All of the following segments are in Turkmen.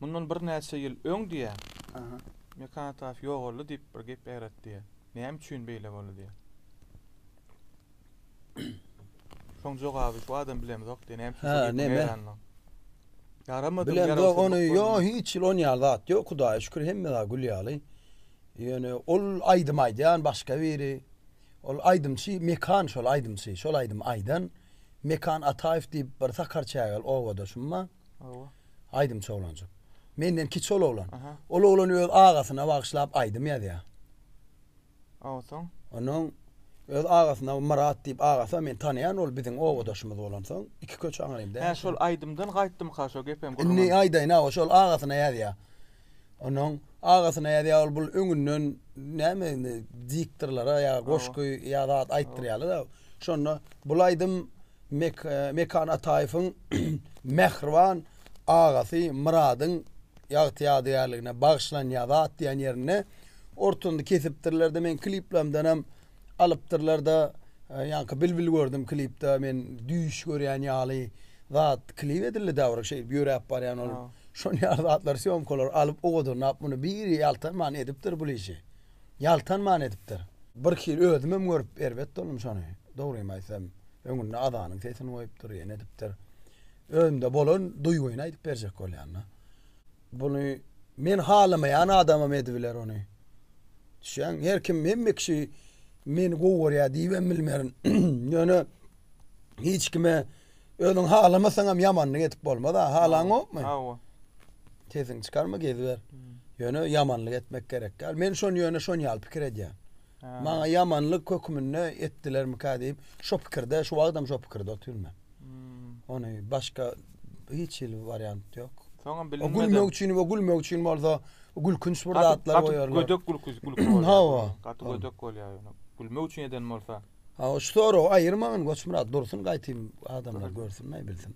Mundan birnäçe ýyl öň diýýär, Mekan Ataýew ýogaldy diýip bir gep ýaýratdy diýýär. Näme üçin beýle boldy diýýär. Şoň jogaby şu adam bilemzok diýýär. Näme üçin şol ýigit ýaranmaň. Ýaramady. Bilemzok ony. Ýo hiç ýyl on ýaly zat ýok. Hudaýa şükür hemme zat gül ýaly. Ýöne ol aýdym aýdýan başga biri. Ol aýdymçy Mekan şol aýdymçy. Şol aýdym aýdan. Mekan Ataýew diýip bir sakar çägel obadaşym bar. Hawa. Aýdymçy oglanjyk. Menden kiçi ol oglan. Ol oglan öz agasyna bagyşlap aýdym ýazýar. Hawa soň. Onuň öz agasyna Myrat diýip agasy men tanaýan ol biziň obadaşymyz bolansoň iki köçe aňyrymda. Hä şol aýdymdan gaýtdymyka şo gepem gürrüň. Indi aýdaýyn hawa şol agasyna ýazýar. Onuň agasyna ýazýar ol bul öňünden näme indi diktorlara ýa goşgy ýa zat aýtdyrýarlar. Şonda bul aýdym Mekan Ataýewiň Mähriban agasy Myradyň ýagty-ýadygärligine bagyşlan Ýazat diýen ýerinde ortany kesipdirler-de, meň kliplerimdenem alypdyrlar-da, ýaňky Bilbil gördüm klipde, men düýş görýän ýaly zat klip edildi dä bir şeýdip ýöräp barýan ol. Şol ýaly zatlary, sýomkalary alyp ogadyrnap muny biri ýaltanman edipdir bul işi. ýaltanman edipdir. Bir hili özümem görüp erbet boldum şony. Dogrymy aýtsam, öňünde azanyň sesini goýupdyr, ýene edipdir. Özümde bolan duýgyny aýdyp berjek bolýan-da. Buny men halamaýan adamam edibiler ony. Düşýäňmi? Her kim, hemme kişi meni gowy görýär diýibem bilmerin. Ýöne hiç kime Özüň halamasaňam ýamanlyk edip bolmaz-a, halaňokmy? Hawa. Sesiňi çykarma, geziber. Ýöne ýamanlyk etmek gerek däl. Men şony ýöne şon ýaly pikir edýän. Maňa ýamanlyk höküminde etdilermikä diýip, şo pikirde, şu wagtam şo pikirde otyryn men. Ony başga hiç hili wariant ýok. Soňam bilinmedi. O gülmek üçin we gülmek üçin bolsa gülkünç bir zatlar goýarlar. Gaty gödek gülki gülki bolýar. Hawa. Gaty gödek bolýar ýöne. Gülmek üçin eden bolsa. Hawa şu soragy aýyrmagyn Goçmyrat dursun gaýtym adamlar görsün aýbilsin.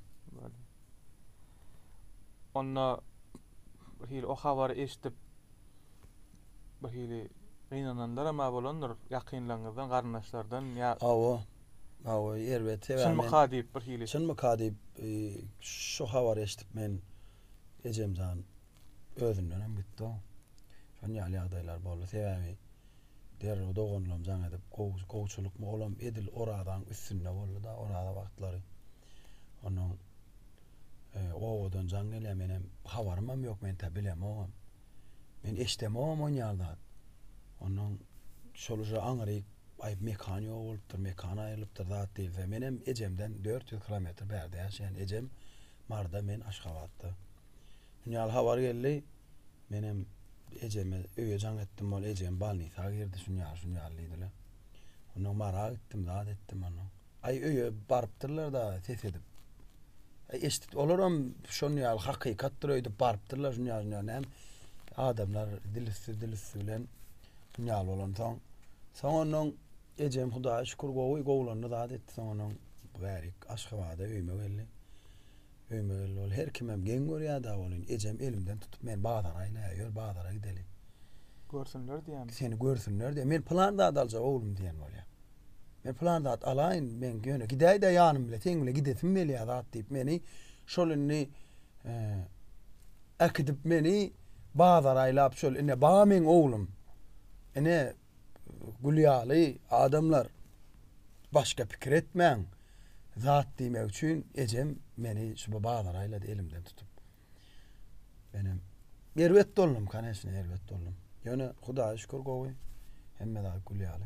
Onda bir hili o habary eşidip bir hili gynananlar hem bolandyr ýakynlaryňyzdan garyndaşlardan ýa Hawa. Hawa erbet sebäbi. Çynmyka diýip bir hili. Çynmyka diýip e, şu habary eşidip men ejemjan Özünden hem gitdi-ow. Şon ýaly ýagdaýlar boldy. Sebäbi derrew doganlam jaň edip, gowy, gowçylykmy, olam edil Orazaň üstünde boldy-da, Oraza wagtlary. Onnoň obadan jaň gelýär, menem habarymam ýok, men tä bilemogam. Men eşdemogam on ýaly zat. Onnoň şol uje aňryk aýb mekan ýok bolupdyr, mekan aýrylypdyr zat diýilse. Menem ejemden dört ýüz kilometr bärde ýaşaýan. Ejem Maryda, men Aşgabatda. Dünýäli habar geldi. Menem ejeme öýe jaň etdim. Ol ejem balnisa girdi. Şunýaly, şunýaly diýdiler. Onnoň Mara gitdim, zat etdim onnoň. Aý öýe barypdyrlar-da ses edip. Aý eşitdi. Olaram şonýaly hakykatdyr öýdüp barypdyrlar şunýaly, şunýaly näme. Adamlar dil üsti, dil üsti bilen şunýaly bolansoň. Soň onnoň ejem Hudaýa şükür gowy, gowulandy, zat etdi. Soň onnoň bärik Aşgabada öýüme geldi. Öýüme geldi ol. Her kimem geň görýär-dä welin, ejem elimden tutup meni bazara aýlaýar. Ýör, bazara gideli. Görsünler diýýämi? Seni görsünler diýýär. Men pylan zat aljak oglum diýen bolýar. Men pylan zat alaýyn, men ýöne gidäý-dä ýanym bile, seň bile gidesim gelýär zat diýip meni şol indi äkidip meni bazara aýlap şol ine bar meň oglum. Ine Gül ýaly adamlar başga pikir etmäň zat diýmek üçin ejem meni şuba bazara aýlady elimden tutup. Menem erbet doldum kaneşne erbet doldum. Ýöne hudaýa şükür gowy hemme zat gül ýaly.